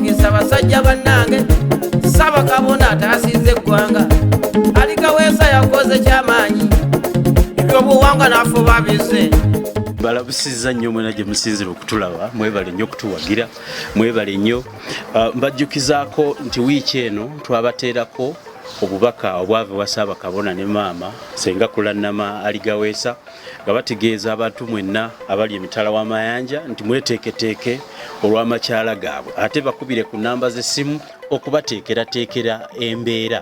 ngisa basajja bannange sabakabona ataasiza eggwanga alikaweesa yakoze kyamaanyi ebyobuwanga nafuba bize balabusiza nnyo mwena gye musinzira okutulaba mwebale nnyo okutuwagira mwebale nnyo uh, mbajjukizaako nti wiiki eno twabateerako obubaka obwava ewa saabakabona ne maama senga kulanama aligaweesa nga bategeeza abantu mwenna abali emitala w'amayanja nti mweteeketeeke olw'amakyala gaabwe ate bakubire ku namba z'essimu okubateekerateekera embeera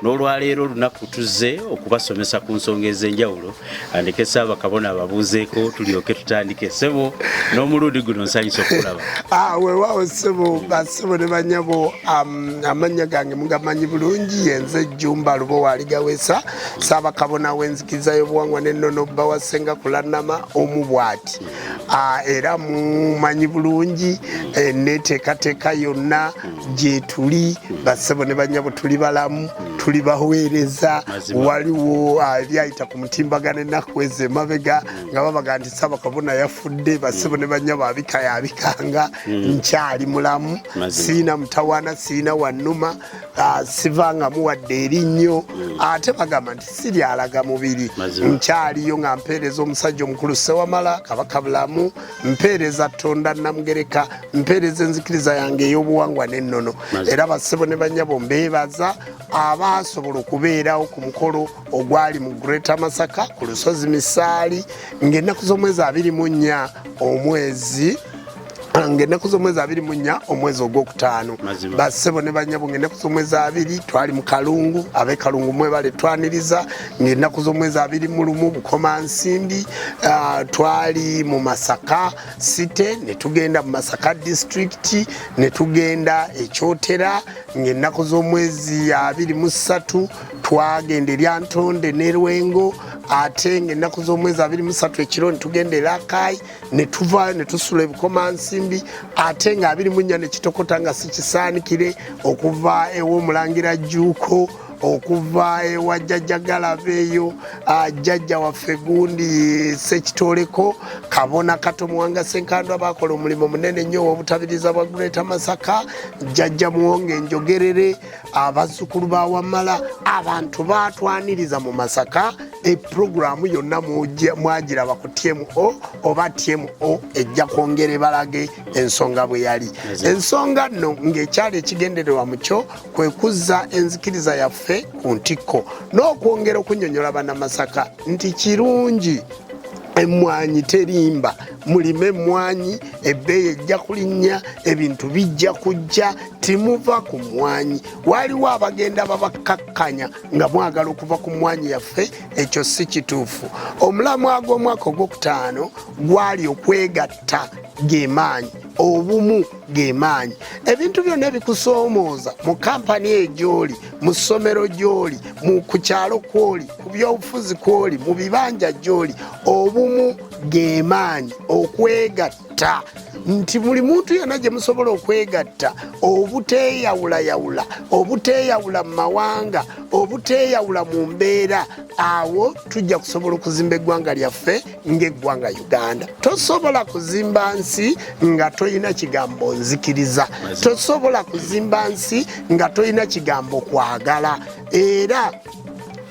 n'olwaleero olunaku tuzze okubasomesa ku nsonga ez'enjawulo andeke saabakabona ababuuzeeko tulyoke tutandike ssebo n'omulundi guno nsanyusa okulaba ah, wewaawo ssebo basebo ne banyabo um, amannya gange mugamanyi bulungi yenze jjumba lubo waaligawesa Ssaabakabona w'enzikiriza y'obuwangwa n'ennono bba wa Ssenga Kulannama omu bw'ati ah, era mumanyi bulungi eh, neteekateeka yonna gyetuli bassebo ne bannyabo tuli balamu tuli baweereza waliwo ah, ebyayita ku mutimbaga nenaku ezo emabega nga babaga nti Ssaabakabona yafudde bassebo ne bannyabo abika yabikanga hmm. nkyali mulamu siina mutawaana siina wannuma Ah, sivanga muwadde erinnyo hmm. ate bagamba nti si lyalaga mubiri nkyaliyo nga mpeereza omusajja omukulu sewamala kabaka bulamu mpeereza tonda namugereka mpeereza enzikiriza yange ey'obuwangwa n'ennono era bassebo ne banyabo mbeebaza abaasobola okubeerawo ku mukolo ogwali mu greata masaka ku lusozi misaali ng'ennaku z'omwezi abiri mu nnya omwezi ng'ennaku z'omwezi abiri mu nnya omwezi ogwokutaano bassebo ne banyabo ng'ennaku z'omwezi abiri twali mu kalungu ab'e kalungu mwebale twaniriza ng'ennaku z'omwezi abiri mu lumu bukoma nsimbi ah, twali mu masaka site ne tugenda mu masaka disitulikiti ne tugenda ekyotera ng'ennaku z'omwezi abiri mu ssatu twagenda erya ntonde ne lwengo ate ng'ennaku z'omwezi abiri mu ssatu ekiro ne tugenda e lakayi ne tuvaayo ne tusula ebikomansimbi ate nga abiri mu nnya ne kitokota nga sikisaanikire okuva ew'omulangira jjuuko okuva ewa jjajja galabeeyo ah, jjajja waffe gundi sekitoleko kabona kato muwanga senkandwa bakola omulimu munene nnyo owobutabiriza bwa greata masaka jjajja muwonge enjogerere abazzukulu bawamala abantu batwaniriza mu masaka epulogulaamu yonna mwagiraba ku tmo oba tmo ejja kwongera ebalage ensonga bwe yali ensonga nno ng'ekyali ekigendererwa mu kyo kwe kuzza enzikiriza yaffe ku ntikko n'okwongera okunyonyola banamasaka nti kirungi emmwanyi terimba mulime emmwanyi ebbeeyi ejja kulinnya ebintu bijja kujja timuva ku mmwanyi waaliwo abagenda babakkakkanya nga mwagala okuva ku mmwanyi yaffe ekyo si kituufu omulamwa gw'omwaka ogwokutaano gwali okwegatta gemaanyi obumu gemaanyi ebintu byonna ebikusoomooza mu kampani egyoli mu ssomero gyoli ku kyalo kwoli ku byobufuzi kwoli mu bibanja gyoli obumu gemaanyi okwegatta okwegatta nti buli muntu yena gye musobola okwegatta obuteeyawulayawula obuteeyawula mu mawanga obuteeyawula mu mbeera awo tujja kusobola okuzimba eggwanga lyaffe ng'eggwanga uganda tosobola kuzimba nsi nga tolina kigambo nzikiriza tosobola kuzimba nsi nga tolina kigambo kwagala era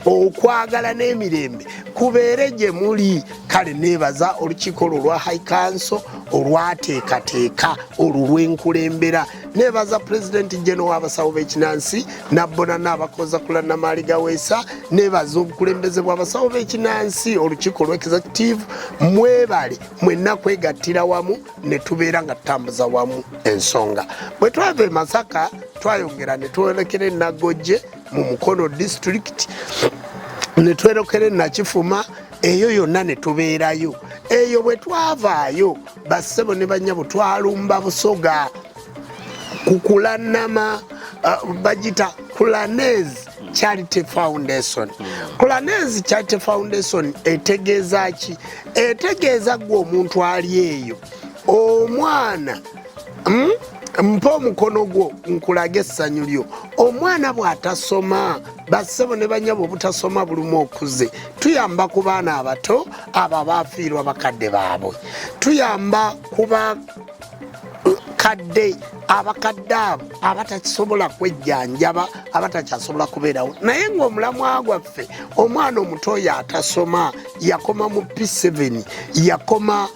okwagala n'emirembe kubeere gye muli kale neebaza olukiiko lwo lwa high council olwateekateeka olwo lwenkulembera neebaza pulezidenti jeno w'abasawo b'ekinansi nabbonana abakoza kula namaali gaweesa neebaza obukulembeze bw'abasawo b'ekinansi olukiiko lwa executive mwebale mwenna kwegattira wamu ne tubeera nga tutambuza wamu ensonga bwe twava e masaka twayongera ne twolekera enagojje mu mukono disitulikiti ne twerokere nakifuma eyo yonna ne tubeerayo eyo bwe twavaayo bassebo ne bannyabo twalumba busoga ku kulanama uh, bagita kulanez charity foundation kulanez charity foundation etegeeza ki etegeeza gwe omuntu ali eyo omwana hmm? mpa omukono gwo nkulage essanyu lyo omwana bw'atasoma bassebo ne banyabo obutasoma bulumu okuze tuyamba ku baana abato abo abaafiirwa bakadde baabwe tuyamba kuba abakadde abakadde abo abatakisobola kwejjanjaba abatakyasobola kubeerawo naye ngaomulamwa gwaffe omwana omuto oyo atasoma yakoma mu p7 yakoma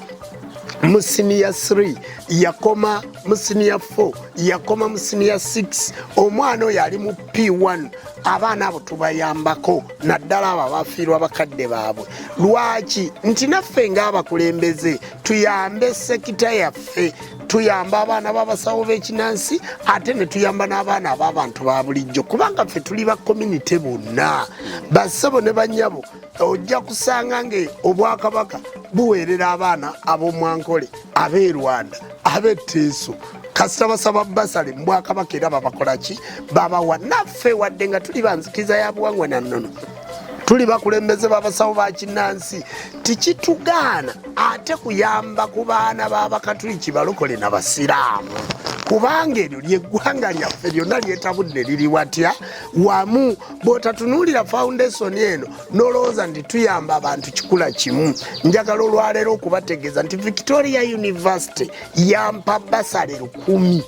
mu siniya 3 yakoma mu siniya 4 yakoma mu siniya 6 omwana oyo ali mu p1 abaana abo tubayambako naddala abo abafiirwa bakadde baabwe lwaki nti naffe ngaabakulembeze tuyambe sekita yaffe tuyamba abaana babasawo bekinansi ate netuyamba n'abaana ab'abantu ba bulijjo kubanga ffe tuli ba community bonna bassebo ne banyabo ojja kusanga nga obwakabaka buweerera abaana ab'omwankole ab'e rwanda ab'e teeso kasita basaba basale mubwakabaka era babakola ki babawa naffe wadde nga tuli banzikiza ya buwangwa na nnono tuli bakulembeze babasawo bakinansi tikitugaana ate kuyamba ku baana babakatuliki balokole na basiraamu kubanga eryo lyeggwanga lyaffe lyonna lyetabudde liri watya wamu bw'otatunulira foundation eno nolowooza nti tuyamba abantu kikula kimu njagala olwaleero okubategeeza nti victoria university yampa basale lukumi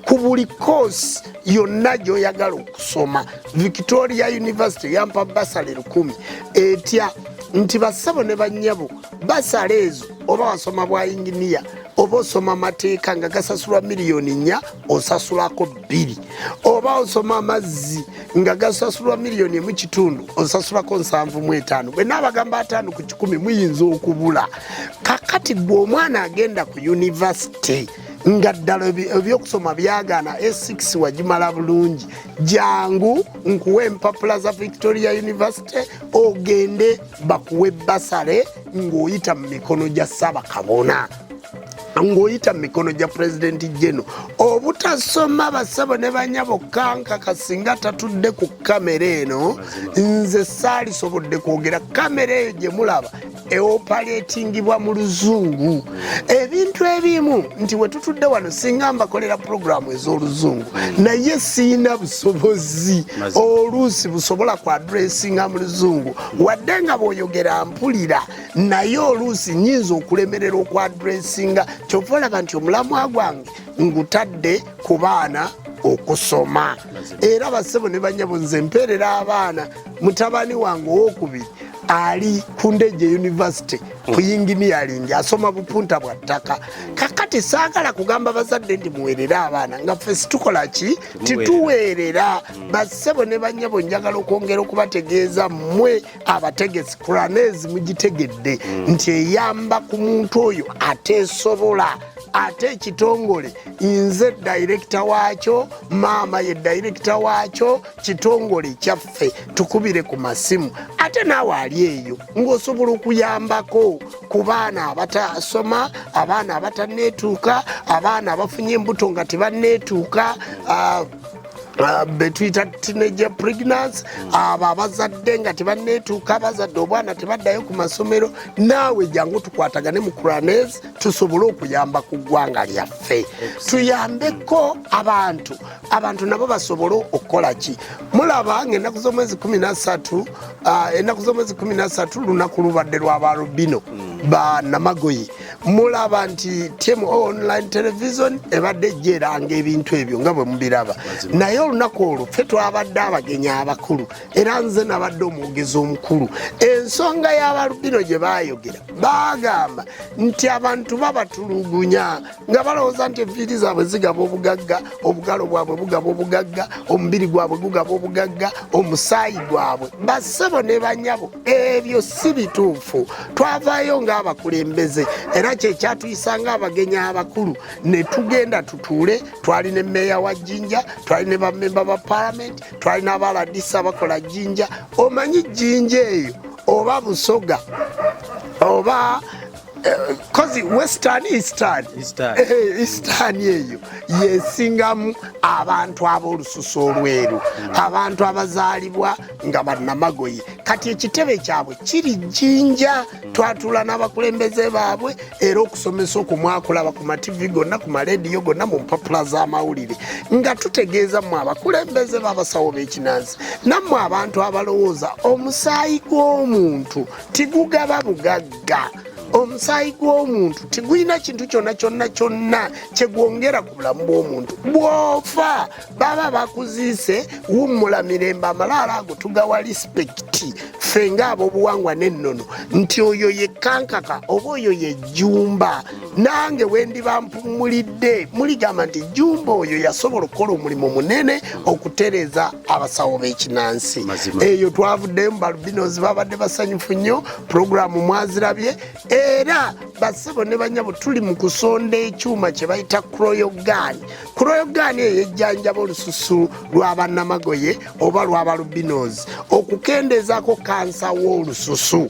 ku buli koosi yonna gyoyagala okusoma victoria university yampa basale lukumi etya nti bassabo ne bannyabo basala ezo oba wasoma bwa inginiya oba osoma amateeka nga gasasulwa miliyoni nnya osasulako bbiri oba osoma amazzi nga gasasulwa miliyoni emu kitundu osasulako nsanvu mu etaano bwe naabagamba ataano ku kikumi muyinza okubula kakati gwe omwana agenda ku yunivasite nga ddala ebyokusoma byagaana a6 wagimala bulungi jangu nkuwa empapula za victoria university ogende bakuwe basale ng'oyita mu mikono gya ssabakabona ng'oyita mu mikono gya pulezidenti jeno obutasoma basabo ne banyabo kankaka singa tatudde ku kamera eno nze saalisobodde kwogera kamera eyo gye mulaba eopaletingibwa mu luzungu ebintu ebimu nti we tutudde wano singa mbakolera pulogulaamu ez'oluzungu naye siyina busobozi oluusi busobola ku adressinga mu luzungu wadde nga bw'oyogera mpulira naye oluusi nyinza okulemerera okwadressinga kyova olaba nti omulamwa gwange ngutadde ku baana okusoma era basebo ne banyabo nze mpeerera abaana mutabani wange owokubiri ali ku ndeje university ku yinginiyalingi asoma bupunta bwa ttaka kakati saagala kugamba bazadde nti muweerere abaana nga ffe situkola ki tituweerera bassebo ne bannyabo njagala okwongera okubategeeza mmwe abategesi kuranezi mugitegedde mm. nti eyamba ku muntu oyo ateesobola ate ekitongole nze dayirekita waakyo maama ye dayirekita waakyo kitongole kyaffe tukubire ku masimu ate naawe ali eyo ng'osobola okuyambako ku baana abatasoma abaana abataneetuuka abaana abafunye embuto nga tebaneetuuka uh, Ah, betuyita teenager pregnancy abo abazadde nga tebanneetuuka abazadde obwana tebaddayo ku masomero naawe jangu tukwatagane mu kuranes tusobole okuyamba ku ggwanga lyaffe tuyambeko abantu abantu nabo basobole okukola ki mulaba nga ennaku z'omwezi 13 ah, ennaku z'omwezi 13 lunaku lubadde lwa balubino banamagoyi mulaba nti temu online television ebadde ejjeeranga ebintu ebyo nga bwe mubiraba naye olunaku olwo ffe twabadde abagenyi abakulu era nze nabadde omwogezi omukulu ensonga y'abalubino gye baayogera baagamba nti abantu babatulugunya nga balowooza nti enviiri zaabwe zigaba obugagga obugalo bwabwe bugaba obugagga omubiri gwabwe gugaba obugagga omusaayi gwabwe bassebo ne banyabo ebyo si bituufu twavaayo ng'abakulembeze era kyekyatuyisa ng'abagenyi abakulu ne tugenda tutuule twali ne meeya wa jjinja twali ne bamemba ba palamenti twali n'abaladisa bakola jjinja omanyi jjinja eyo oba busoga oba kozi western eastern eastern eh, eh, eyo yesingamu abantu ab'olususu olweru hmm. abantu abazaalibwa nga bannamagoye kati ekitebe kyabwe kiri jjinja hmm. twatula n'abakulembeze baabwe era okusomesa okumwakulaba ku mativi gonna ku malediyo gonna mu mpapula z'amawulire nga tutegeeza mmwe abakulembeze b'abasawo b'ekinansi nammwe abantu abalowooza omusaayi gw'omuntu tigugaba bugagga omusaayi gw'omuntu tigulina kintu kyonna kyonna kyonna kyegwongera ku bulamu bw'omuntu bwofa baba bakuziise wummula mirembe amalaalo ago tugawa lispekiti ffe ng'abobuwangwa n'ennono nti oyo yekkankaka oba oyo yejjumba nange wendiba mpumulidde muligamba nti jumba oyo yasobola okukola omulimu munene okutereza abasawo b'ekinansi eyo twavuddemu balubinozi babadde basanyufu nnyo pulogulaamu mwazirabye era basebo ne banyabo tuli mu kusonda ekyuma kye bayita kroyogaani kroyogaani eyo ejjanjaba olususu lwa bannamagoye oba lwa balubinozi okukendeezaako kansa w'olususu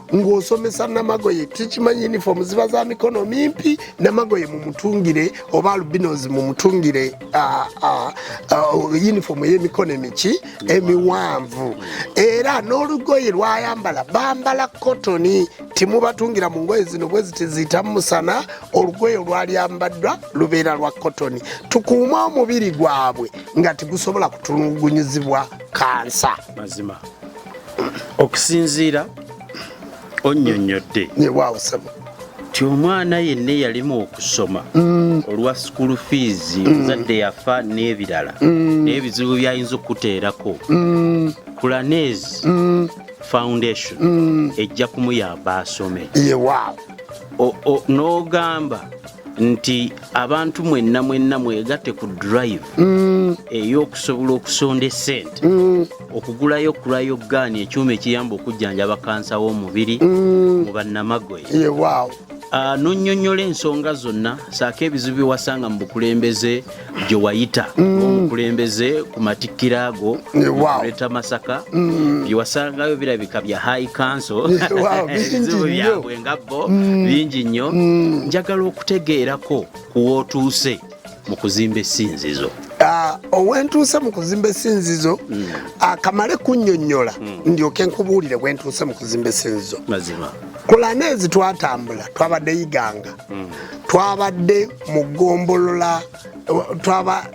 ng'osomesa namagoye tukimanyi uniform ziba za mikono mimpi namagoye mumutungire oba albinos mumutungire ah, ah, ah, uniform ey'emikono emiki emiwanvu era n'olugoye lwayambala bambala kotoni timubatungira mu ngoye zino bwe zitiziyita musana olugoye olwalyambaddwa lubeera lwa kotoni tukuuma omubiri gwabwe nga tigusobola kutulugunyizibwa kansa mazima okusinziira onnyonnyodde nti omwana yenna eyalimu okusoma mm. olwa school fees muzadde mm. yafa n'ebirala mm. n'ebizibu byayinza okukuteerako kulanez foundation ejja kumuyamba asome n'ogamba nti abantu mwenna mwenna mwegatte ku drive mm. ey'okusobola okusonda esente mm. okugulayo kulayo gaani ekyuma ekiyamba okujjanjaba kansa w'omubiri mm. mu bannamagoye ah, nonyonyola ensonga zonna saako ebizibu byewasanga mu bukulembeze gye wayita omukulembeze mm. ku matikkiro ago oleta masaka mm. bye wasangayo birabika bya high council ebizibu byabwe nga bo mm. bingi nnyo njagala okutegeerako ku wootuuse mu kuzimba esinzizo ah, owentuuse mu kuzimba esinzizo hmm. akamale ah, kunyonyola hmm. ndyoke nkubuulire bwentuuse mu kuzimba esinzizo kulana ezi twatambula twabadde yiganga twabadde mu ggombolola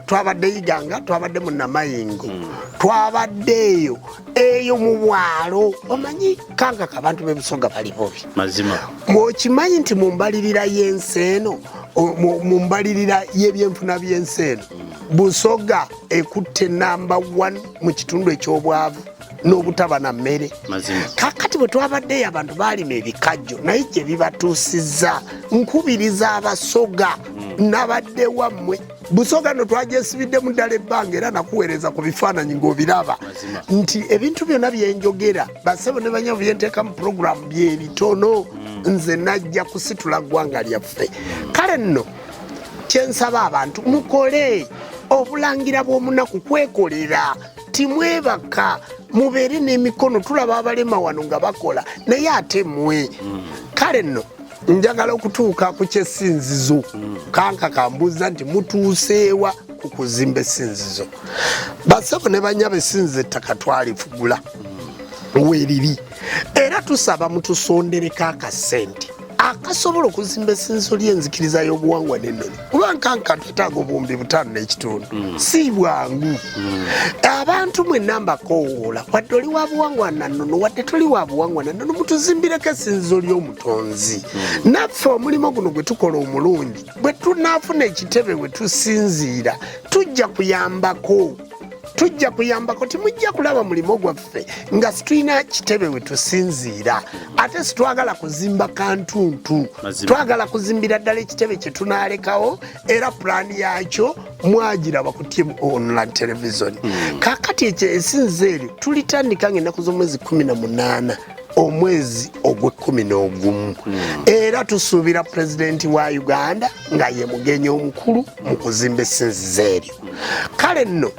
twabadde iganga twabadde mu namayingo hmm. twabadde eyo eyo mu bwalo omanyi kankaka abantu b'ebusoga bali bobi okimanyi nti mu mbalirira y'ensi eno mu mbalirira y'ebyenfuna by'ensi eno hmm. busoga ekutte namba 1 mu kitundu eky'obwavu n'obutaba na mmere kakati bwe twabaddeyo abantu baalima ebikajjo naye gye bibatuusizza nkubiriza abasoga hmm. nabadde wammwe busoga no twagyesibiddemu ddala ebbanga era nakuweereza ku bifaananyi ng'obiraba nti ebintu byonna byenjogera basebo ne banyabo byenteeka mu puroguramu byebitono hmm. nze najja kusitula ggwanga lyaffe kale nno kyensaba abantu mukole obulangira bw'omunaku kwekolera timwebaka mubeere n'emikono tulaba abalema wano nga bakola naye ate mwe mm. kale nno njagala okutuuka ku kyesinzizo kanka kambuuza nti mutuuseewa ku kuzimba esinzizo basebo ne banyaba esinzizo ettaka twalifugula weriri era tusaba mutusondereko akasente akasobola okuzimba esinzo ly'enzikiriza y'obuwangwa n'ennono kuba nkanka twetaaga obuwumbi butaano n'ekitundu mm. si bwangu mm. abantu mwe namba kowoola wadde oli wa buwangwa na nnono wadde toli wa buwangwa na nnono mutuzimbireko esinzo ly'omutonzi mm. naffe omulimu guno gwe tukola omulungi bwe tunaafuna ekitebe we tusinziira tujja kuyambako tujja kuyambako timujja kulaba mulimu gwaffe yaffe nga situlina kitebe we tusinziira ate sitwagala kuzimba kantuntu twagala kuzimbira ddala ekitebe kye tunaalekawo era pulaani yaakyo mwagiraba ku timu online televisioni hmm. kakati ekyo esinza eryo tulitandika nga ennaku z'omwezi kumi na munaana omwezi ogw'ekkumi n'ogumu hmm. era tusuubira pulezidenti wa uganda nga ye mugenyi omukulu mu kuzimba esinzizo eryo kale nno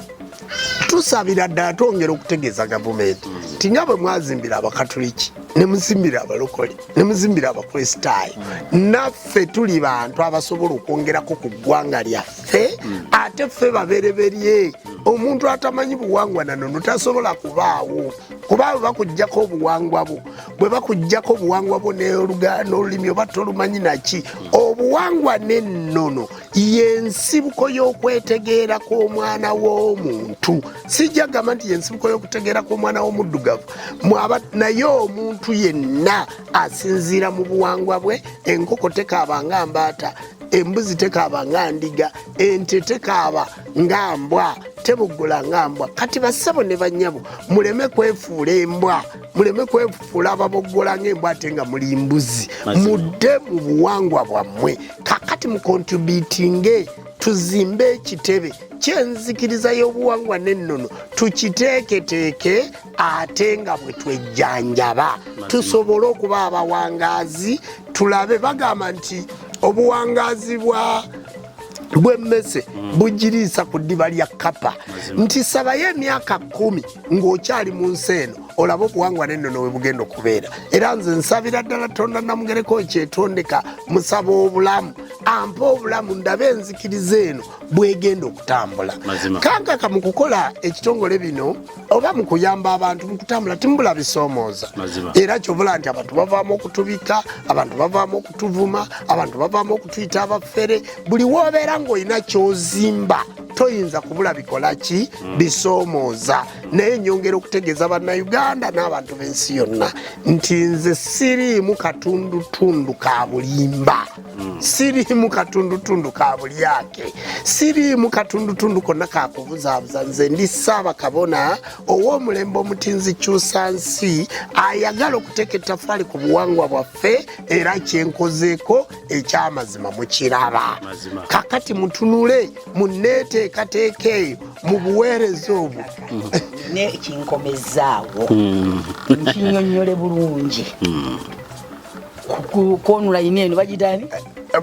tusabira ddala twongera okutegeeza gavumenti nti nga bwe mwazimbira abakatuliki ne muzimbira abalokole ne muzimbira abakristaayo naffe tuli bantu abasobola okwongerako ku ggwanga lyaffe ate ffe babereberye omuntu atamanyi buwangwa nanono tasobola kubaawo kuba abo bakugjako obuwangwa bwo bwe bakugjako obuwangwa bwo n'olulimi oba tolumanyi naki obuwangwa n'ennono yensibuko y'okwetegeera kw'omwana w'omuntu sijja gamba nti yensibuko y'okutegeera kw'omwana w'omuddugavu mwaba naye omuntu yenna asinziira mu buwangwa bwe enkoko tekaaba nga mbaata embuzi tekaaba nga ndiga ente tekaaba nga mbwa tebugula nga mbwa kati basebo ne banyabo muleme kwefuula embwa muleme kwefuula ababoggola nga embwa ate nga muli mbuzi mudde mu buwangwa bwammwe kakati mukontributinge tuzimbe ekitebe kyenzikiriza y'obuwangwa n'ennono tukiteeketeeke ate nga bwe twejjanjaba tusobole okuba abawangazi tulabe bagamba nti obuwangazi bwa bwemmese mm. bugiriisa ku ddiba lya kapa nti sabayo emyaka kumi ng'okyali mu nsi eno olaba obuwangwa n'ennono we bugenda okubeera era nze nsabira ddala tonda namugereko ekyetondeka musaba obulamu ampa obulamu ndabe enzikiriza eno bwegenda okutambula kankaka mu kukola ekitongole bino oba mu kuyamba abantu mu kutambula timubula bisoomooza era kyobula nti abantu bavaamu okutubika abantu bavaamu okutuvuma abantu bavaamu okutuyita abafere buli woobeera ng'olina kyozimba toyinza kubula bikola ki hmm. bisoomooza naye nyongera okutegeeza bannayuganda n'abantu b'ensi yonna nti nze siriimu katundutundu ka bulimba hmm. siriimu katundutundu ka bulyake siriimu katundutundu konna kakubuzaabuza nze ndi ssaabakabona ow'omulembe omutinzi kyusa nsi ayagala okuteeka ettafaali ku buwangwa bwaffe era kyenkozeeko ekyamazima mukiraba kakati mutunule muneeteekateeka eyo mu buweereza obwo nekinkomezaawo hmm. nkinyonyole bulungi hmm. kwonula yini eno bagitani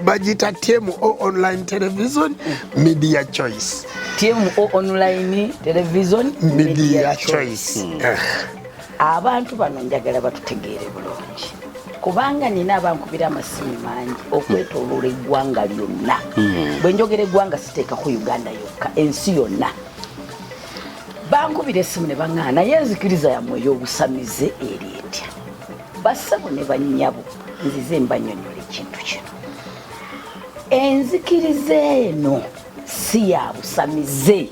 bagita tmu online television media choice tmu online television media choice hmm. eh. abantu bano njagala batutegeere bulungi kubanga nina abankubira amasimu mangi okwetoloola eggwanga lyonna hmm. bwe njogera eggwanga siteeka ku uganda yokka ensi yonna bankubira esimu ne baŋaa naye enzikiriza yamwe ey'obusamize eri etya bassebo ne bannyabo nzize mbanyonyola ekintu kino enzikiriza eno si ya busamize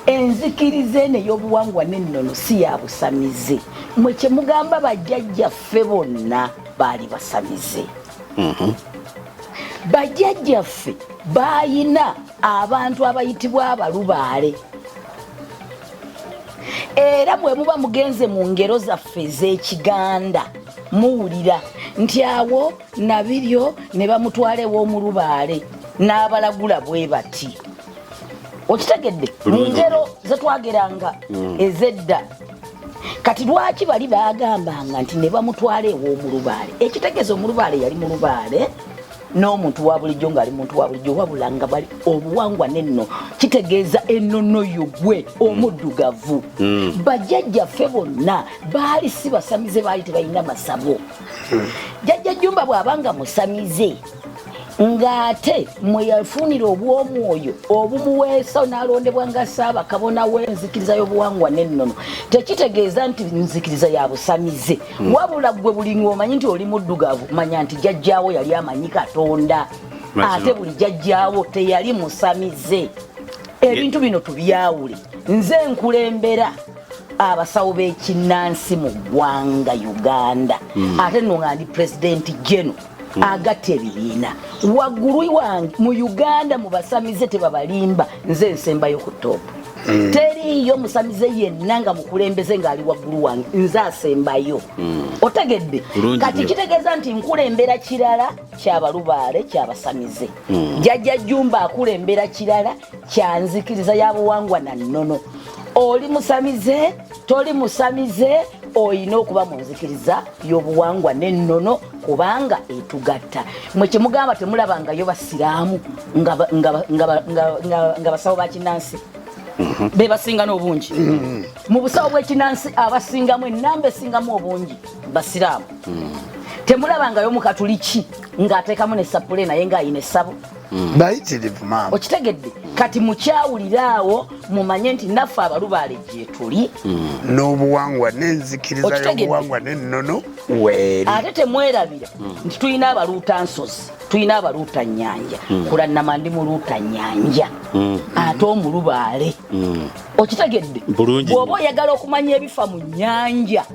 enzikiriza eno ey'obuwangwa n'ennono si ya busamize mwe kye mugamba bajjajjaffe bonna baali basamize mhm. bajjajjaffe baalina abantu abayitibwa abalubaale era bwe muba mugenze mu ngero zaffe ez'ekiganda muwulira nti awo nabiryo ne bamutwala ew'omulubaale n'abalagula bwe bati okitegedde mu ngero ze twageranga mm. ez'edda kati lwaki bali baagambanga nti ne bamutwala ew'omulubaale ekitegeeza omulubaale yali mulubaale n'omuntu wa bulijjo ng'ali muntu wa bulijjo wabula nga bali obuwangwa nenno kitegeeza ennono yo gwe omuddugavu mm. bajjajjaffe bonna baali si basamize baali tebalina masabo jajja jumba bwaba nga musamize ng'ate mwe yafunira obw'omwoyo obumuweesa n'alondebwa nga saaba kabona w'enzikiriza y'obuwangwa n'ennono tekitegeeza nti nzikiriza ya busamize hmm. wabula ggwe buli ng'omanyi nti oli muddugavu manya nti jajjaawo yali amanyi katonda ate buli jajjaawo teyali musamize ebintu bino tubyawule nze nkulembera abasawo b'ekinnansi mu ggwanga uganda hmm. ate no nga ndi pulezidenti geno hmm. agatta ebibiina waggulu wange mu uganda mu basamize tebabalimba nze ensembayo ku toopu hmm. teriiyo musamize yenna nga mukulembeze ng'ali waggulu wange nze asembayo otegedde kati kitegeeza nti nkulembera kirala kyabalubaale kyabasamize jajja jumba akulembera kirala kyanzikiriza ya buwangwa na nnono oli musamize toli musamize olina okuba mu nzikiriza y'obuwangwa n'ennono kubanga etugatta mwe kyemugamba temulabangayo basiraamu nga basawo bakinansi mhm. bebasinga n'obungi mhm. mu busawo bwekinansi abasingamu enamba esingamu obungi basiraamu mhm. temulabangayo mukatuliki ng'ateekamu ne sapule naye ng'ayina essabo Mm. bayitirivu maama okitegedde kati mukyawulira awo mumanye nti naffe abalubaale gyetuli mm. n'obuwangwa n'enzikiriza y'obuwangwa n'ennono weeri ate temwerabira mm. nti tulina abaluuta nsozi tulina abaluuta nyanja kulannama ndi muluuta nyanja ate omulubaale okitegedde bw'oba oyagala okumanya ebifa mu nyanja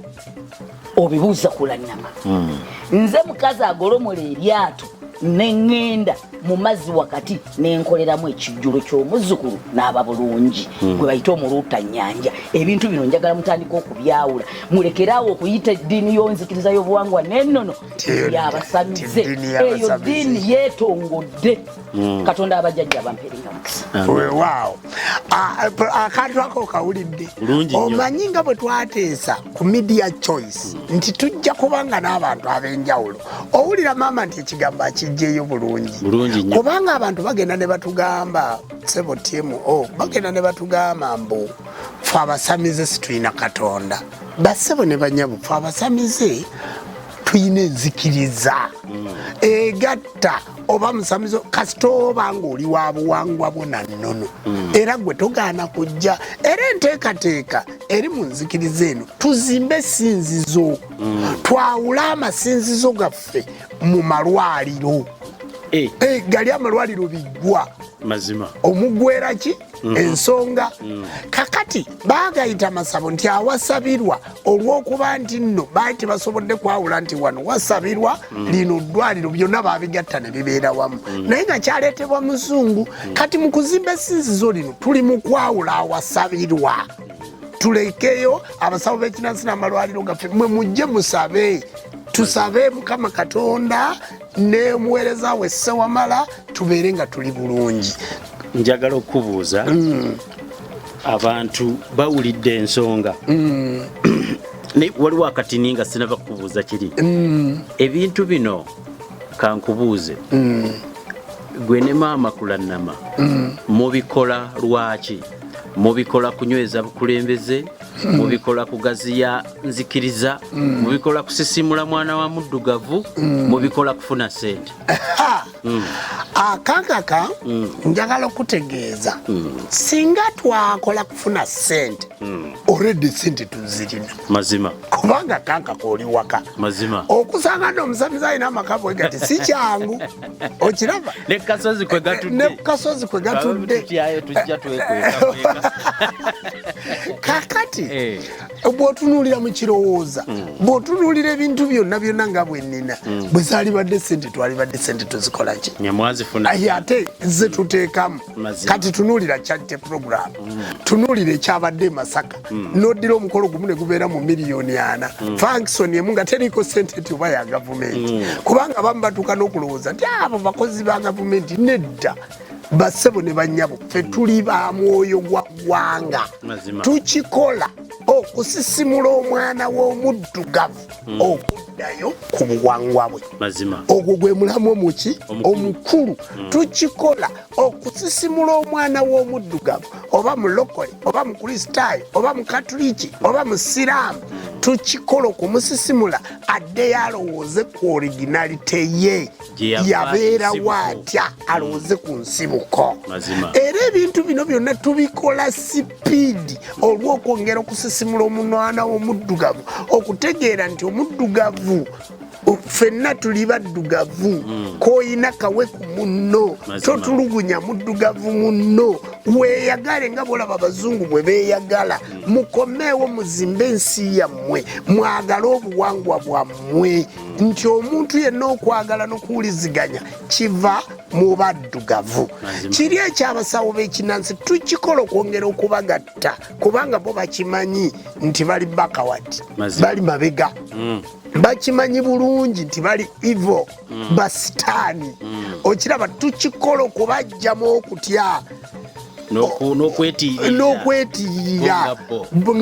obibuuza kulanyama hmm. nze mukazi agolomola eryato neŋŋenda mu mazzi wakati nenkoleramu ekijjulo ky'omuzzukulu n'aba bulungi hmm. gwe bayita omuluuta nnyanja ebintu bino njagala mutandika okubyawula mulekeraawo okuyita eddiini y'onzikiriza y'obuwangwa n'ennono yabasamize eyo ddiini yeetongodde Mm. katonda abajjajja bamperinga mukisa wewaawo akantu ako okawulidde omanyi nga bwe twateesa ku media choice mm. nti tujja kubanga n'abantu ab'enjawulo owulira maama nti ekigambo akijjeeyo bulungi kubanga abantu bagenda ne batugamba sebo tmo oh, bagenda ne batugamba mbu fe abasamize situyina katonda basebo ne banyabu fe abasamize tuyina enzikiriza mm. egatta oba musamizo kasita oba ng'oli wa buwangwa bwo na nnono mm. era gwe togaana kujja era enteekateeka eri mu nzikiriza eno tuzimbe esinzizo mm. twawule amasinzizo gaffe mu malwaliro eh. Eh, gali amalwaliro biggwa mazima omugwera ki Mm-hmm. ensonga mm. kakati bagayita masabo nti awasabirwa olwokuba nti nno baali tebasobodde kwawula nti wano wasabirwa mm. lino ddwaliro byonna babigatta ne bibeera wamu mm. naye nga kyaleetebwa muzungu kati mu kuzimba esinzizo lino tuli mu kwawula awasabirwa tulekeyo abasawo b'ekinansi n'amalwaliro gaffe mwe mujje musabe tusabe mukama katonda nemuweereza we ssewamala tubeere nga tuli bulungi njagala okukubuuza mm. abantu bawulidde ensonga mm. naye waliwo akatini nga sinaba kukubuuza kiri mm. ebintu bino kankubuuze gwe ne maama kulannama mubikola lwaki mubikola kunyweza bukulembeze mubikola kugaziya nzikiriza mubikola kusisimula mwana wa muddugavu mubikola kufuna sente mm. akakaka mm. njagala okutegeeza mm. singa twakola kufuna sente mm. oredi sente tuzirina mazima kubanga kakaka oli waka mazima okusanga no omusamizi alina amaka bwegati si kyangu okiraba ne kasozi kwe gatudde ne kasozi kwe gatudde kakati eh. bwotunuulira mu kirowooza mm. bwotunuulira ebintu byonna byonna nga bwennina mm. bwe zaalibadde sente twalibadde sente tuzikolaki aye ate ze tuteekamu kati tunuulira charity program mm. tunuulira ekyabadde emasaka noddira omukolo gumu ne gubeera mu miliyoni ana fankisoni emu nga teriiko sente ti oba ya gavumenti kubanga abamu batuuka n'okulowooza nti abo bakozi ba gavumenti nedda basebo ne banyabo fe tuli ba mwoyo gwa gwanga tukikola okusisimula omwana w'omuddugavu hmm. okuddayo ku buwangwa bwe ogwo gwe mulamu omuki omukulu hmm. tukikola okusisimula omwana w'omuddugavu oba mulokole oba mukristaayo oba mukatuliki oba musiraamu hmm. tukikola okumusisimula addeyo alowooze ku originalite ye yabeerawo atya alowooze ku nsibuko era ebintu bino byonna tubikola sipiidi olw'okwongera okusisimula omunwana w'omuddugavu okutegeera nti omuddugavu fenna tuli baddugavu hmm. koyina kawe ku munno totulugunya muddugavu munno weyagale nga bolaba abazungu bwe beyagala hmm. mukomeewo muzimbe ensi yammwe mwagale obuwangwa bwammwe nti omuntu yenna okwagala nokuwuliziganya kiva mu baddugavu kiri ekyabasawo bekinansi tukikola okwongera okubagatta kubanga bo bakimanyi nti bali bakawati bali mabega mm. bakimanyi bulungi nti bali ivo mm. basitaani mm. okiraba tukikola okubajjamu okutya n'okwetirira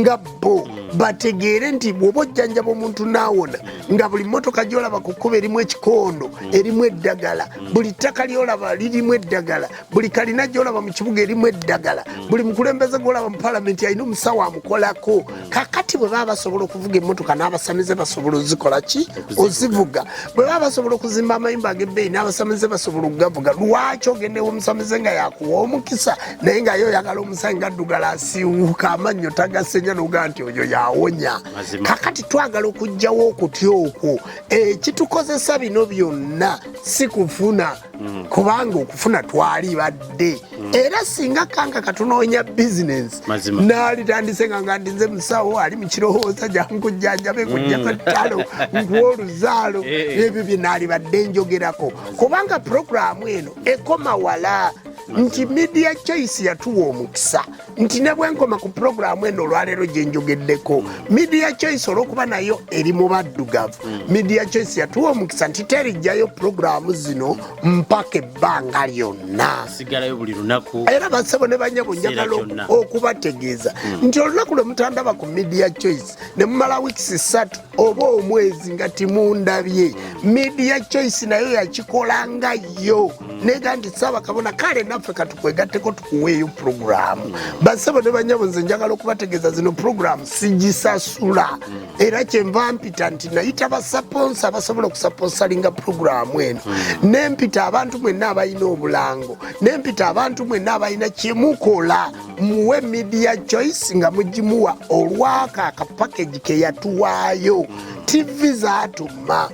nga bo hmm. bategeere nti bwoba ojjanjaba omuntu naawona hmm. nga buli motoka gyolaba ku kkuba erimu ekikondo hmm. erimu eddagala buli ttaka lyolaba lirimu eddagala buli kalina gyolaba mu kibuga erimu eddagala buli mukulembeze gwolaba mu palamenti alina omusawo amukolako kakati bwe baba basobola okuvuga emmotoka n'abasamize basobola ozikola ki ozivuga bwe baba basobola okuzimba amayumba ag'ebbeeyi n'abasamize basobola okugavuga lwaki ogendewo omusamize nga yakuwa omukisa naye nga yo oyagala omusanyi gaddugala asiwuka amannyo tagasenya noga nti oyo yawonya kakati twagala okugjawo okutya okwo ekitukozesa eh, bino byonna si kufuna mm. kubanga okufuna twali badde mm. era singa kanga katunoonya bizinensi naalitandise nga nga ndinze musawo ali mukirowooza jankujjanjabe mm. kujjasatalo nkuwa oluzaalo eh. ebyo bye naali badde njogerako kubanga puroguramu eno ekoma wala nti media choice yatuwa omukisa nti ne bwenkoma ku pulogulaamu eno olwaleero gye njogeddeko media choice olwokuba nayo eri mu baddugavu mm. media choice yatuwa omukisa nti terijjayo pulogulaamu zino mpaka ebbanga lyonna era basebo ne banyabo njagala okubategeeza mm. nti olunaku lwe mutandaba ku media choice ne mumala wiikisi ssatu oba omwezi nga timundabye media choice nayo yakikola nga yo nega nti kabona kale naffe katukwegatteko tukuweeyo puroguramu basebo ne banyabo nze njagala okubategeeza zino puroguramu sigisasula era kyenva mpita nti nayita basaponsa abasobola okusaponsalinga puroguramu eno nempita abantu mwenna abalina obulango nempita abantu mwenna abalina kyemukola muwe media choice nga mugimuwa olwako akapakagi keyatuwaayo ttivi zaatuma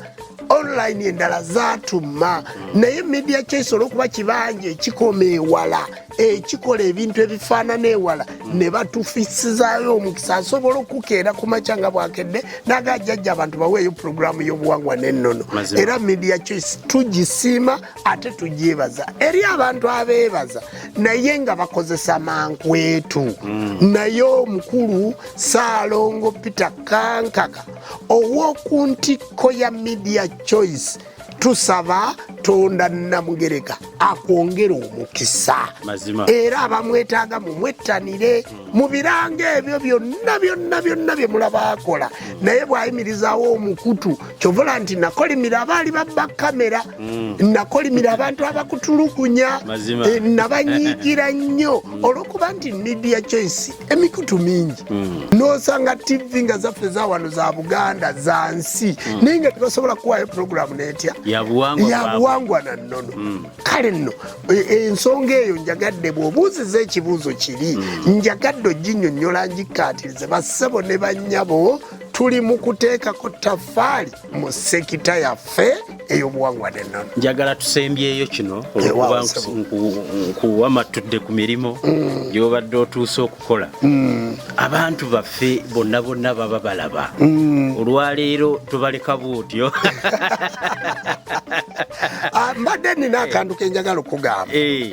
online endala zaatuma naye media choice olwokuba kibanja ekikoma ewala ekikola ebintu ebifaanana ewala ne batufisizayo omukisa asobola okukeera ku makya nga bwakedde naga ajjajja abantu baweeyo pulogulaamu y'obuwangwa n'ennono era media choice tugisiima ate tugyebaza eri abantu abeebaza naye nga bakozesa mankwetu mm. naye omukulu saalongo peter kankaka ow'oku ntikko ya media choice tusaba tonda namugereka akwongera omukisa era abamwetaaga mumwettanire mu biranga ebyo byonna byonna byonna bye mulaba akola naye bw'ayimirizaawo omukutu kyovola nti nakolimira abaali babba kamera mm. nakolimira abantu abakutulugunya eh, nabanyigira nnyo mm. olwokuba nti media choice emikutu mingi mm. nosanga tv nga zaffe zawano za buganda za nsi naye nga tebasobola kuwayo programu netya yabuwangwa na nnono kale nno e, e, ensonga eyo njagadde bwobuuziza ekibuuzo kiri njagadde oginyonyola ngikkaatirize bassebo ne banyabo tuli mu kuteekako taffaali mu sekita yaffe ey'obuwangwa n'ennono njagala tusembyeyo kino olwokuba nkuwa matudde ku mirimu mm. gyobadde otuuse okukola mm. abantu baffe bonna bonna baba balaba mm. olwaleero tubaleka buutyo ah, mbadde nina akantu kenjagala okugamba eh.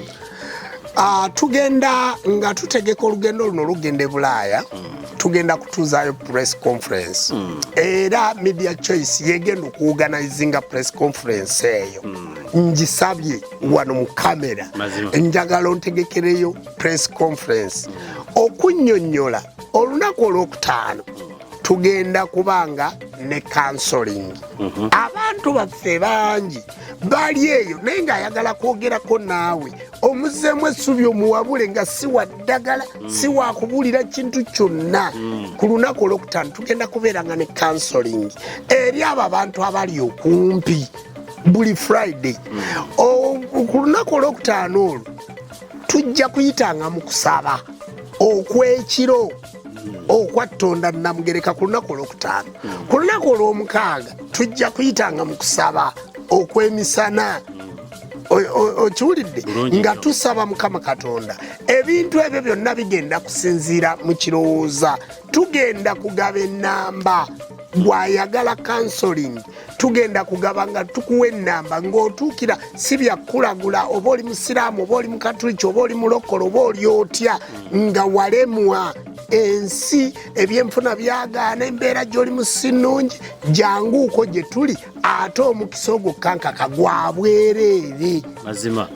Uh, tugenda nga tutegeka olugendo luno lugenda e bulaaya mm. tugenda kutuuzaayo press conference mm. era media choice yegenda okuwuganizinga press conference eyo mm. njisabye wano mu kamera njagala ontegekereyo press conference mm. okunyonyola olunaku olwokutaano mm. tugenda kubanga ne kansoling mm -hmm. abantu baffe bangi baali eyo naye ng'ayagala kwogerako naawe omuzeemu essubi omuwabule nga si wa ddagala mm. si wa kubuulira kintu kyonna mm. ku lunaku olwokutaano tugenda kubeera nga ne kansoling eri abo abantu abali okumpi buli friday mm. ku lunaku olwokutaano olwo tujja kuyitanga mu kusaba okw'ekiro okwattonda namugereka ku lunaku olwokutaano ku lunaku olwomukaaga tujja kuyitanga mu kusaba okwemisana okiwulidde nga tusaba mukama katonda ebintu ebyo byonna bigenda kusinziira mu kirowooza tugenda kugaba enamba gwayagala kansoling tugenda kugaba nga tukuwa enamba ngaotuukira si byakukulagula oba oli musiraamu oba oli mukatuliki oba oli mulokola oba oli otya nga walemwa ensi ebyenfuna byagaana embeera gyoli musi nungi janguuko gye tuli ate omukisa ogwo kankaka gwa bwereere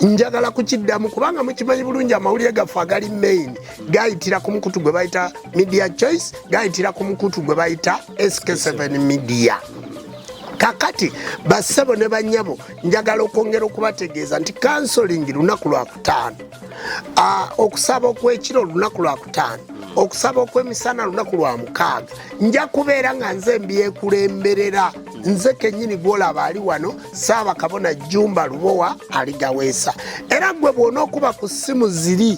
njagala kukiddamu kubanga mukimanyi bulungi amawulire gaffe agali main gayitira ku mukutu gwe bayita media choice gayitira ku mukutu gwe bayita SK7 Media kakati bassebo ne banyabo njagala okwongera okubategeeza nti kansolingi lunaku lwakutaano okusaba okwekiro olunaku lwakutaano okusaba okwemisana lunaku lwa mukaaga nja kubeera nga nze mbyekulemberera nze kenyini gwolaba ali wano saabakabona jumba lubowa aligaweesa era gwe bwona okuba ku ssimu ziri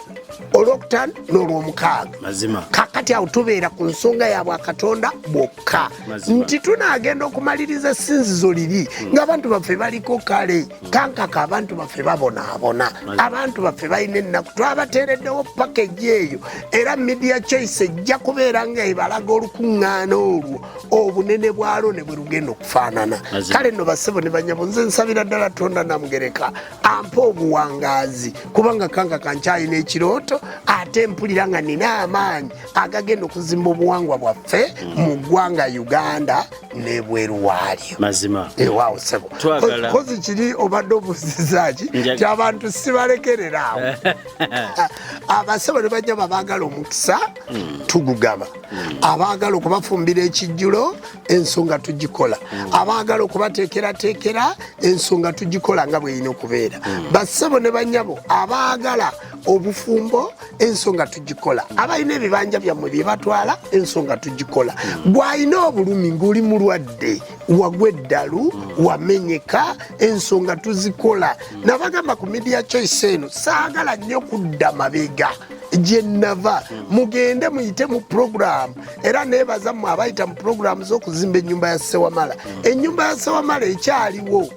olwokutaano n'olwomukaaga kakati awo tubeera ku nsonga ya bwakatonda bwokka nti tunaagenda okumaliriza essinzizo liri hmm. ng'abantu baffe baliko kale kankaka abantu baffe babonaabona abantu baffe balina ennaku twabateereddewo pakeji eyo era media choice ejja kubeera nga ebalaga olukuŋŋaana olwo obunene bwalwo ne bwe lugenda okufaanana kale no basebo ne banyabo nze nsabira ddala tonda namugereka ampa obuwangaazi kubanga kanga kankyalina ekirooto ate mpulira nga nina amaanyi agagenda okuzimba obuwangwa bwaffe mu ggwanga uganda nebweru waalyo mazima ewaawo eh, sebo kozi kiri obadde obuzizaaki kyabantu sibalekerera awo abasebo ne bajja babaagala omukisa hmm. tugugaba hmm. abaagala okubafumbira ekijjulo ensonga tugikola mm. abaagala okubateekerateekera ensonga tugikola nga bwerina okubeera mm. bassebo ne banyabo abaagala obufumbo ensonga tugikola mm. abalina ebibanja byammwe bye batwala ensonga tugikola gwalina obulumi ng'oli mulwadde wagwa eddalu wamenyeka ensonga tuzikola nabagamba ku media choice eno saagala nnyo kudda mabega gye nnava mugende muyite mu programu era nebaza mwe abayita mu pulogulaamu z'okuzimba ennyumba ya ssewamala ennyumba ya ssewamala ekyaliwo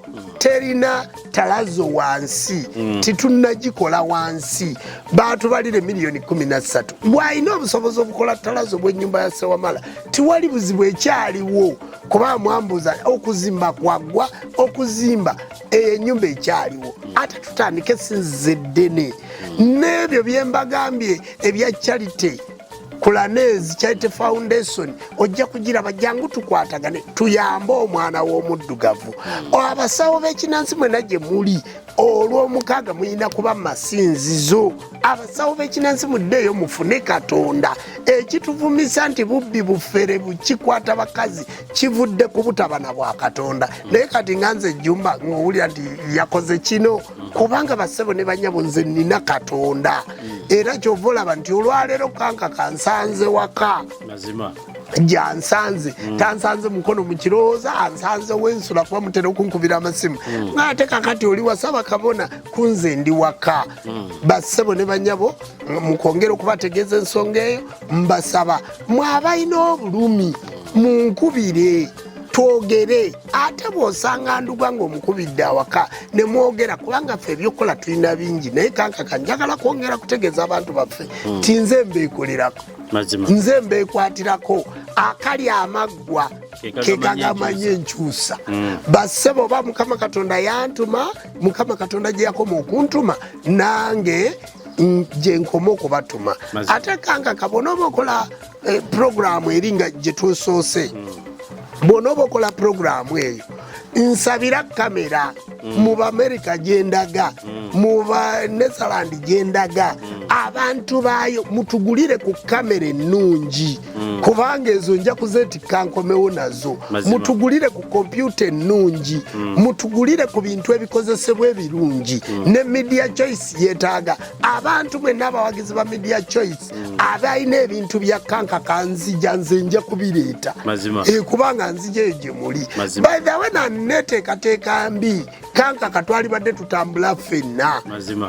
terina talazo wansi mm. titunagikola wansi batubalire miliyoni 13 bwalina obusobozi obukola talazo bwenyumba ya sewamala tiwali buzibu ekyaliwo kuba mwambuza okuzimba kwagwa okuzimba eyo enyumba ekyaliwo ate tutandike sinzize ddene mm. n'ebyo byembagambye ebya charity Kulanezi Charity Foundation ojja kugiraba jangu tukwatagane tuyambe omwana w'omuddugavu hmm. abasawo b'ekinansi mwena gye muli olw'omukaaga mulina kuba masinzizo abasawo b'ekinansi muddeeyo mufune katonda ekituvumisa nti bubbi bufere bukikwata bakazi kivudde ku butabana bwa katonda naye kati nga nze ejjumba ng'owulira nti yakoze kino kubanga basebo ne banyabo nze nina katonda era kyova olaba nti olwaleero kanka kansanze waka gyansanze mm. tansanze mukono mukirowooza ansanze wensula kuba mutera okunkubira amasimu mm. ngaate kakati oli wasaba kabona kunze ndi waka mm. basebo ne banyabo mukwongera okubategeeza ensonga eyo mbasaba mwabalina obulumi munkubire twogere ate bwosanga nduga ngaomukubidde awaka nemwogera kubanga ffe ebyokukola tulina bingi naye kankaka njagala kwongera kutegeeza abantu baffe hmm. ti nze mbeekolerako nze mbeekwatirako akali amaggwa kekagamanya enkyusa hmm. basebo oba mukama katonda yantuma mukama katonda gyeyakoma okuntuma nange gyenkoma okubatuma ate kankaka bona oba okola Eh, pulogulaamu eri nga gye tusoose bwona oba okola pulogulaamu eyo nsabira kamera mm. mu baamerika gyendaga mm. mu banetherland gyendaga mm. abantu baayo mutugulire ku kamera ennungi kubanga ezo nja kuzeetikka nkomewo nazo mutugulire ku kompyuta ennungi mutugulire ku bintu ebikozesebwa ebirungi ne media choice yetaaga abantu bwenna abawagizi ba media choice mm. aba alina ebintu bya kanka kanzija nze nja kubireeta eh, kubanga nzija eyo gye muli baithawe naneteekateeka mbi kanka katwalibadde tutambula ffenna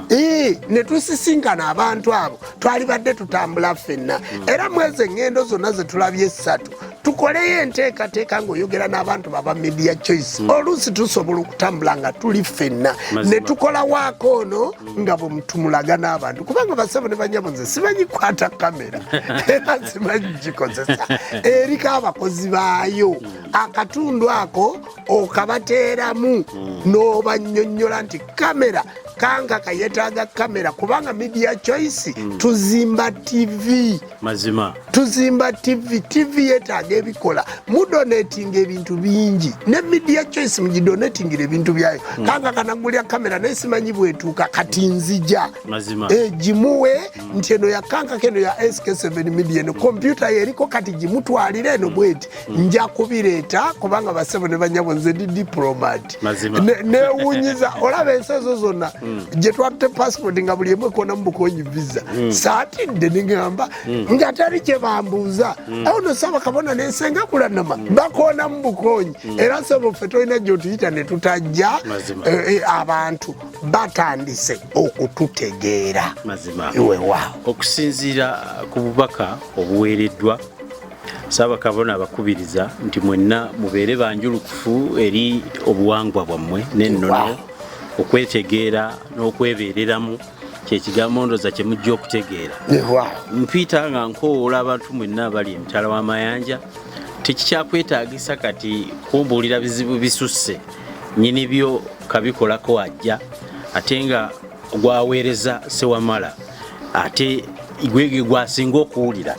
eh, ne tusisinkana abantu abo twalibadde tutambula ffenna mm. era mwezi eŋŋendo zonna ze tulabye essatu tukoleyo enteekateeka ng'oyogera n'abantu baba media choice mm. oluusi tusobola okutambula nga tuli ffenna ne tukola waako ono nga bwe mutumulaga n'abantu kubanga basebo ne banyabo nze simanyi kukwata kamera era simanyi gikozesa eriko abakozi baayo akatundu ako okabateeramu n'obanyonnyola nti kamera kanga kayetaaga kamera kubanga media choice tuzimba tv mazima tuzimba tv tv yetaaga ebikola mudonatinga ebintu bingi ne media choice mugidonatingira ebintu byayo mm. kanga kanagulya kamera naye simanyi bwetuuka kati nzija egimuwe eh, mm. nti eno yakankako eno ya sk7 media eno kompyuta yeriko kati gimutwalire eno mm. bweti mm. nja kubireeta kubanga basebo ne banyabo nze ndi diplomat newunyiza olaba ensi ezo zonna mm. gye twatte passport nga buli emu ekona mu bukonyi visa mm. saatidde nigamba nga tali kye bambuuza awo no saba kabona nensenga kulanama bakona mu bukonyi era sebo ffe tolina gyotuyita ne tutajja eh, eh, abantu batandise okututegeera iwewaawo okusinziira ku bubaka obuweereddwa Ssaabakabona abakubiriza nti mwenna mubeere banjulukufu eri obuwangwa bwammwe n'ennono okwetegeera n'okwebeereramu kyekigambo ndoza kyemujja okutegeera mpiita nga nkowoola abantu mwenna abali emitala w'amayanja tekikyakwetaagisa kati kumbuulira bizibu bisusse nyini byo kabikolako ajja ate nga gwaweereza sewamala ate gwege gwasinga okuwulira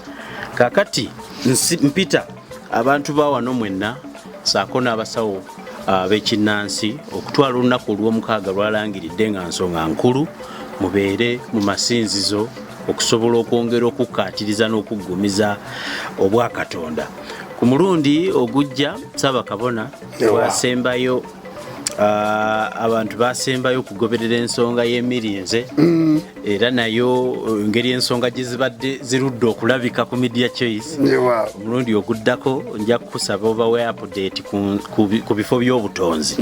kakati mpita abantu bawano mwenna saako n'abasawo ah, bekinnansi okutwala olunaku olwomukaaga lwalangiridde nga nsonga nkulu mubeere mu masinzizo okusobola okwongera okukkaatiriza n'okuggumiza obwakatonda ku mulundi ogujja saabakabona wasembayo Ah, abantu basembayo okugoberera ensonga y'emirinze mm. era nayo eh, ngeri ensonga gye zibadde zirudde okulabika ku media choice omulundi oguddako nja kukusaba obawe apudate ku bifo by'obutonzi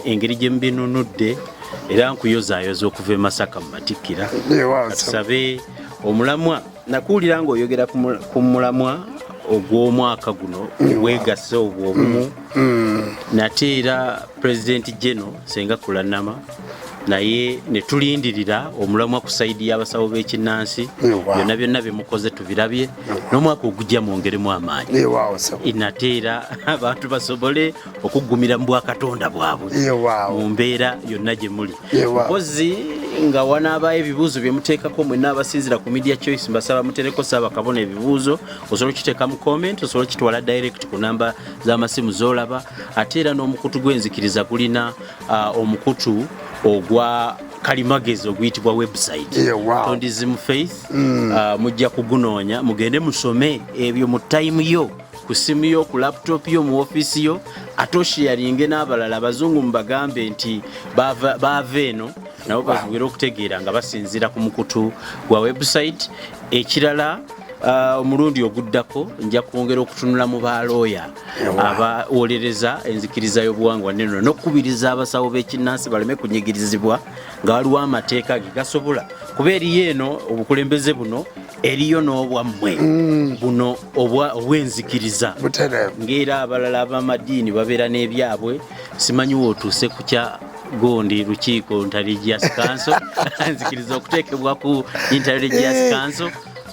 engeri gye mubinunudde era nkuyozaayoza okuva e masaka mu matikkira tusabe omulamwa nakuwulira ng'oyogera ku mulamwa ogw'omwaka guno weegase obwo obumu nate era pulezidenti geno senga kulanama naye ne tulindirira omulamwa ku sayidi y'abasawo b'ekinnansi byonna byonna bye mukoze tubirabye n'omwaka ogujja mwongeremu amaanyi nate era abantu basobole okuggumira mu bwakatonda bwabwe mu mbeera yonna gye muli mpozi nga wanaabayo ebibuuzo bye muteekako mwenna abasinzira ku media choice mbasaba mutereko saaba kabona ebibuuzo osobola okiteeka mu comment osobola okitwala direct ku namba z'amasimu z'olaba ate era n'omukutu gw'enzikiriza gulina uh, omukutu ogwa kalimagezi oguyitibwa website tondizimu faith mm. uh, mujja kugunoonya mugende musome ebyo mu time yo ku ssimu yo ku laputopu yo mu ofiisi yo ate oshiyaringe n'abalala abazungu mubagambe nti baava eno nabo basobole okutegeera nga basinziira ku mukutu gwa webusayiti ekirala uh, omulundi oguddako nja kwongera okutunula mu balooya abawolereza enzikiriza y'obuwangwa neno n'okukubiriza abasawo b'ekinnansi baleme kunyigirizibwa nga waliwo amateeka ge gasobola kuba eriyo eno obukulembeze buno eriyo n'obwammwe mm. buno obwenzikiriza ng'era abalala ab'amadiini babeera n'ebyabwe simanyi wootuuse ku kya gundi lukiiko intelligence council nzikiriza okuteekebwa ku intelligence eh, council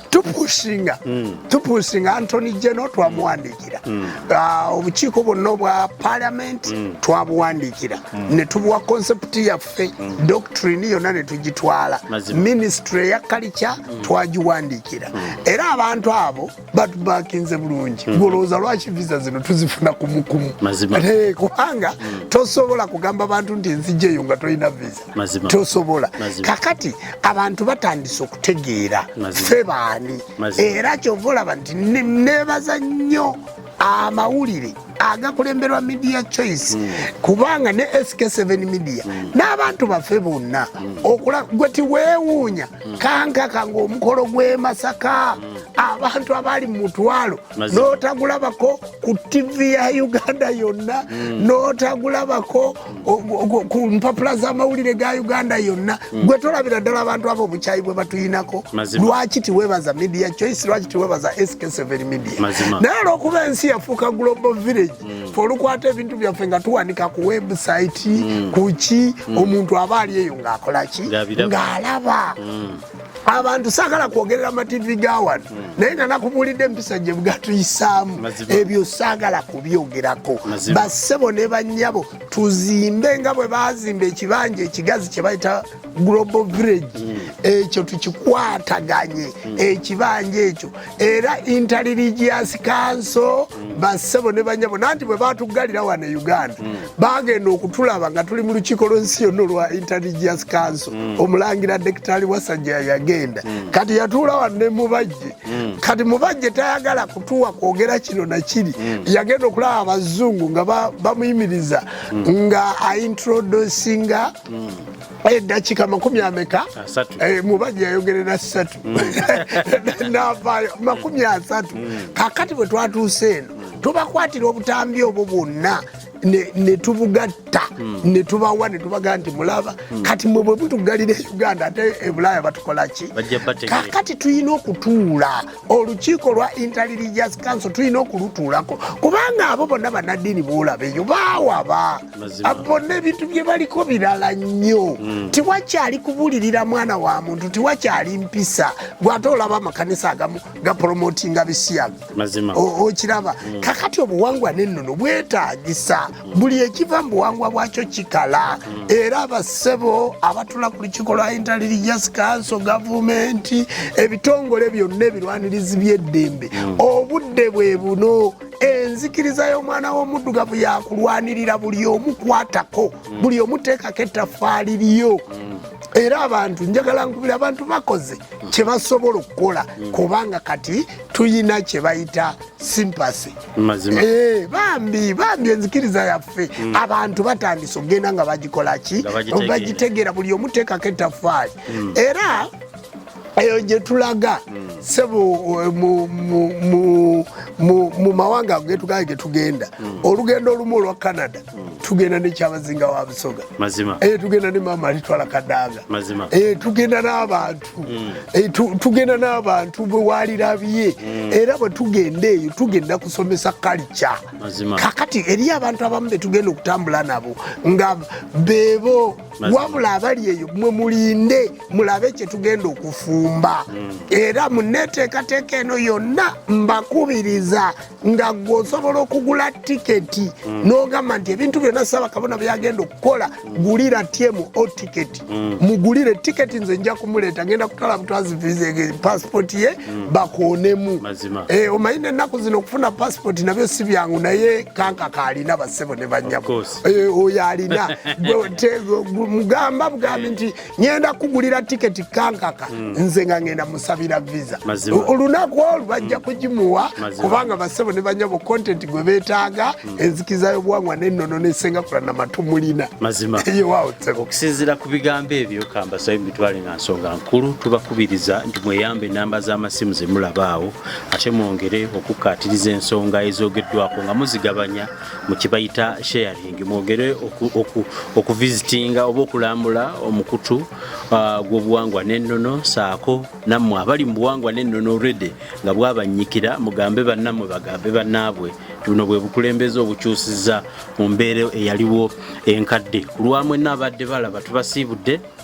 tupusinga mm. tupusinga antony geno twamuwandiikira mm. ah, obukiiko bwonna obwa parliament mm. twabuwandiikira ne tubuwa concept yaffe yaffe mm. doctrine yonna ne tugitwala minisitule eya kalica mm. twagiwandiikira mm. era abantu abo batubakinze bulungi ngolowooza lwaki visa zino tuzifuna kumukumu eh, kubanga tosobola kugamba bantu nti enzija eyo nga tolina visa tosobola kakati abantu batandise okutegeera fe baani era kyova olaba nti nebaza nnyo amawulire agakulemberwa media choice mm. kubanga ne sk7 media mm. n'abantu baffe bonna mm. okula gwe tiweewuunya mm. kankaka ng'omukolo gw'e masaka mm. abantu abaali mu mutwalo n'otagulabako ku ttivi ya uganda yonna mm. n'otagulabako ku mpapula z'amawulire ga uganda yonna mm. gwe tolabira ddala abantu abo obukyayi bwe batuyinako lwaki tiwebaza media choice lwaki tiwebaza sk7 media naye olwokuba ensi yafuuka global village mm. fe olukwata ebintu byaffe nga tuwanika ku website mm. kuki omuntu aba ali eyo ng'akolaki ng'alaba abantu sagala kwogerera mativi ga wano hmm. naye nga nakubuulidde empisa gye bwatuyisaamu ebyo sagala kubyogerako bassebo ne bannyabo tuzimbe nga bwe bazimba ekibanja ekigazi kye bayita global village hmm. ekyo tukikwataganye hmm. ekibanja ekyo era intelligence council bassebo ne banyabo nanti bwe batuggalira wano e uganda mm. bagenda okutulaba nga tuli mu lukiiko lwensi yonna olwa intelligence council mm. omulangira dekitali wasajja yagenda mm. kati yatuula wano ne mubajje kati mubajje tayagala kutuwa kwogera kino na kiri yagenda okulaba abazungu nga bamuyimiriza nga aintroducinga eddakiika makumi ameka eh, mubajja yayogerera ssatu mm. navaayo makumi asatu mm. kakati bwe twatuuse eno tubakwatira obutambi obwo bwonna netubugatta mm. netubawa netubaga nti mulaba kati mwe bwe butugalira e uganda ate ebulaaya batukolaki kakati tulina okutuula olukiiko lwa intelligence council tulina okulutuulako kubanga abo bonna banaddiini boolabeyo baawaba abo bonna ebintu bye baliko birala nnyo mm. tiwakyali kubulirira mwana wa muntu tiwakyali mpisa gwate olaba amakanisa agamu gaporomotinga bisiyaga okiraba mm. kakati obuwangwa nennono bwetagisa mm. buli ekiva mu buwangwa bwakyo kikala era abassebo abatula ku lukiiko lwa intelligence council gavumenti ebitongole byonna ebirwanirizi by'eddembe obudde bwe buno enzikiriza y'omwana w'omuddugavu yakulwanirira buli omu kwatako buli omu teekako ettafaali lyo era abantu njagala nkubira abantu bakoze kye basobola okukola kubanga kati tuyina kye bayita simpasi eh, bambi bambi enzikiriza yaffe mm. abantu batandise okugenda nga bagikolaki bagitegeera buli omu teekako ettafaali mm. era eyo gye tulaga sebo eh, mu mawanga ago getugaye getugenda hmm. olugendo olumu olwa canada hmm. tugenda nekyabazinga wa busoga eyo eh, tugenda ne maama alitwala kadaaga eh, tugenda n'abantu hmm. tugenda n'abantu bwewalirabye era bwe tugenda eyo tugenda kusomesa kalica kakati eriyo abantu abamu betugenda okutambula nabo nga bebo wabula abali eyo mwe mulinde mulabe kyetugenda okufumba mm. era muneteekateeka eno yonna mbakubiriza nga gwe osobola okugula tiketi mm. n'ogamba nti ebintu byonna saba kabona byagenda okukola mm. gulira tyemu o tiketi mugulire tiketi nze nja kumuleeta ngenda kutwala butwazi viza pasipoti ye bakonemu eh, omanyi nennaku zino okufuna pasipoti nabyo si byangu naye kanka kaalina basebo ne banyabo Eh, oyo alina mugamba bugambi nti ngenda kugulira tiketi kankaka hmm. nze nga ngenda musabira visa olunaku olwo bajja hmm. kugimuwa kubanga basebo ne banyabo content gwe betaaga hmm. enzikiza y'obuwangwa n'ennono n'esengakula na matu mulina okusinzira ku bigambo ebyo kambasayo mitwale nga nsonga nkulu tubakubiriza nti mweyambe enamba z'amasimu zemulabaawo ate mwongere okukkaatiriza ensonga ezogeddwako nga muzigabanya mukibayita sharing mwogere okuvizitinga oba okulambula omukutu uh, gw'obuwangwa n'ennono saako nammwe abali mu buwangwa n'ennono rede nga bwabannyikira mugambe bannammwe bagambe bannaabwe buno bwe bukulembeze obukyusiza mu mbeera eyaliwo enkadde ku lwamwe naabadde balaba tubasiibudde